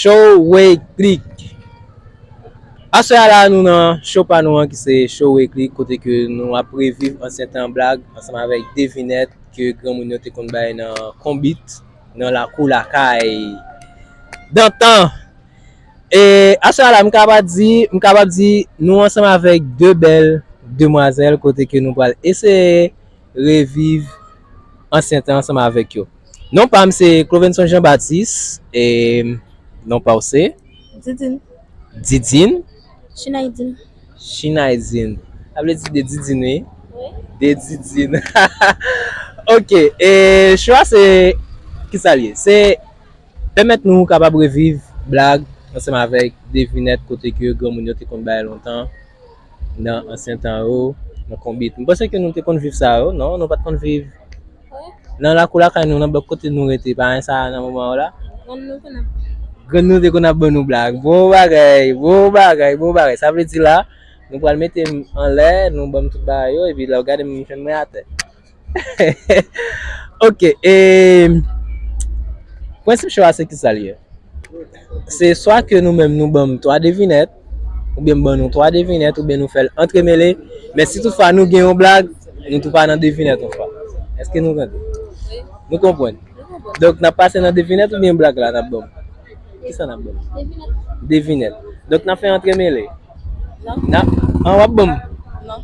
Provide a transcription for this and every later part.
Showway Click Aswè a la nou nan show pa nou an ki se Showway Click kote ke nou ap reviv ansyen tan blag ansanm avèk devinèt ke granmoun yo te konn bay nan konbit nan lakou lakay dantan. E a sa la m kaba di, m kabab di nou ansanm avèk 2 bèl demwazèl kote ke nou pral eseye reviv ansyen tan ansanm avèk yo. Non pa m se Clovenson Jean Baptiste e non pa w se? Didine. Didine? Chinaydine. Chinaydine. Sa vle di de Didine wi. Wi. De Didine. Ok e chwa se kisa l ye? Se. Pèmèt nou kapab reviv blag ansanm avèk devinèt kote ke granmoun yo te konn bay lontan nan ansyen tan yo nan konbit. M panse ke nou te konn viv sa yo, non? Nou pa t konn viv nan lakou lakay nou, nan blòk kote nou rete, pa gen sa nan moman yo la? Grann nou te konn ap ban nou blag. Bon bagay! Bon bagay! Bon bagay! Sa vle di la, nou pral mete m anlè, nou ban m tout bagay yo, epi lè w gade m, m fè m mwen atè. Ok e Prensip cho a se kisa li ye? Se swa ke nou menm nou banm 3 devinèt oubyen m ban nou 3 devinèt oubyen nou fèl antremele men si tout fwa nou gen yon blag nou tou pa nan devinèt yon fwa eske nou tande? Nou konprann? Donk nap pase nan devinèt oubyen blag la nap banm? Kisa nap banm? Devinèt Donk nap fè antremele? Nan An wap banm? Nan.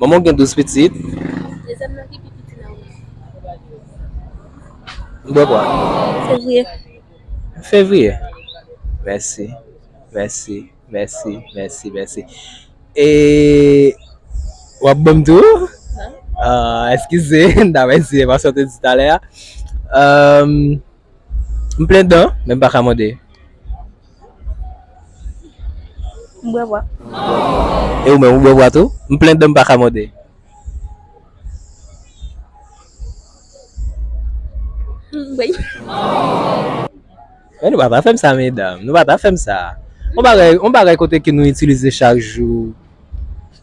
Manman w gen 12 pitit. Dezyèm nan ki pi piti nan ou yo? Bwè bwa. Fevriye. Fevriye. Mèsi. Mèsi. Mèsi. Mèsi. Mèsi. E w ap ban m tou? Non. Eskize, m ta mèsi e paske w te di talè a. M plen dan, men m pa ka mande. M bwè bwa. E ou menm, ou bwè bwa tou? M plen dan m pa ka mòde. M bwè bwa. Men nou pa ta fè m sa medam. Nou pa ta fè m sa. On bagay kote ke nou itilize chak jou.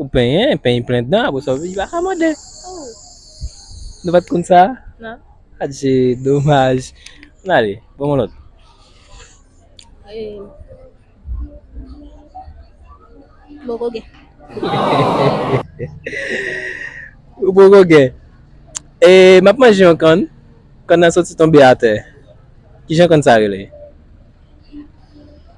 Ou penyen, peny plen dan, apre sa ou vini baka mande. Oh. Nou pat konn sa? Nan. Adje, domaj. Nan ale, bon mwen lòt. E... Bon kogen. Ou bon kogen. E, map manje yon kann, kann nan soti tonbe atè. Kijan kann sa rele?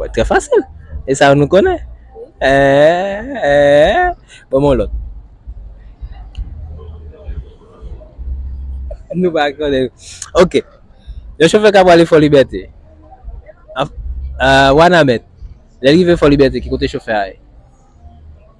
Wè trè fasil. E sa nou konnen. Eee eee. Bon mwen lòt. Nou pa konnen. Ok. Yon chofè ka pwale fò libète. Wana mèt. Lè rive fò libète ki kote chofè a ye.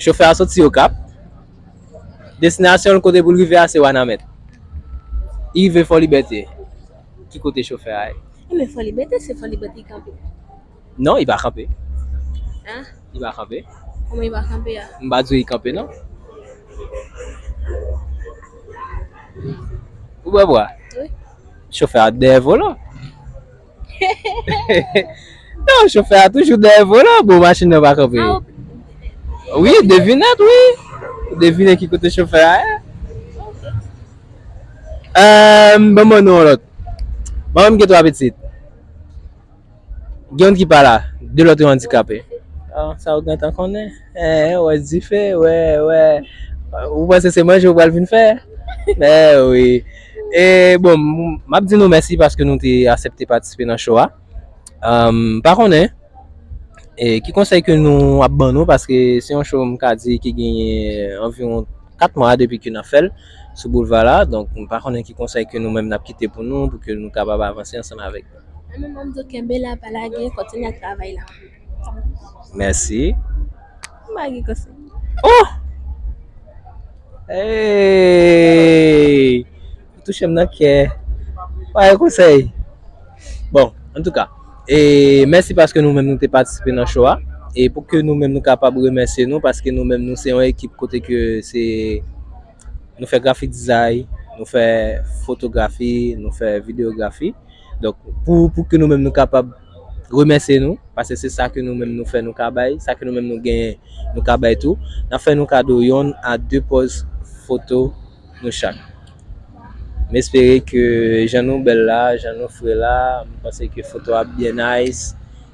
Chofè a soti Okap, destinasyon l kote pou l rive a se Wanament. Li rive Fòlibète, ki kote chofè a ye? Non i pa kanpe. Hein? I pa kanpe. Kouman i pa kanpe a? M pa di w i kanpe non. Ou bwè bwa? Wi. Chofè a dèyè volan. Non chofè a toujou dèyè volan bon machin nan pa kanpe. Ah, ou- Wi devinèt wi. Ou devine ki kote chofè a ye. Ok. Ehm ban m ban nou yon lòt. Manman m gen 3 pitit. Gen youn ki pa la, de lòt yo andikape. An, sa ou gentan konnen? Ee, ou wè dife, wè, wè. Ou panse se manje ou pral vin fè? Ee wi. E, bon, m ap di nou mèsi paske nou te asepte patisipe nan cho a. M pa konnen e ki konsèy ke nou ap ban nou paske se yon cho m ka di ki genyen anviwon 4 mwa depi ke n ap fè l sou boulva la. Donk, m pa konnen ki konsèy ke nou menm n ap kite pou nou pou ke nou kapab avanse ansanm avèk. Amen mamdo kenbe la pa lage kontinye ak travay la. Merci. M'a gen konsey. Oh! Hey! Ou touche m nan kè. M'a gen konsey. Bon, an tou ka. E mèsi paske nou menm nou te patisipe nan show a. E pou ke nou menm nou kapab remèsye nou paske nou menm nou se yon ekip kote ke se Nou fè grafik dizay, nou fè fotografi, nou fè videografi. Donk pou pou ke nou menm nou kapab remèsye nou, pase se sa ke nou menm nou fè nou ka bay, sa ke nou menm nou genyen nou ka bay tou, nan fè nou kado yonn a 2 pòz foto nou chak. M espere ke jan nou bèl la, jan nou fre la, m panse ke foto a ap byen nice.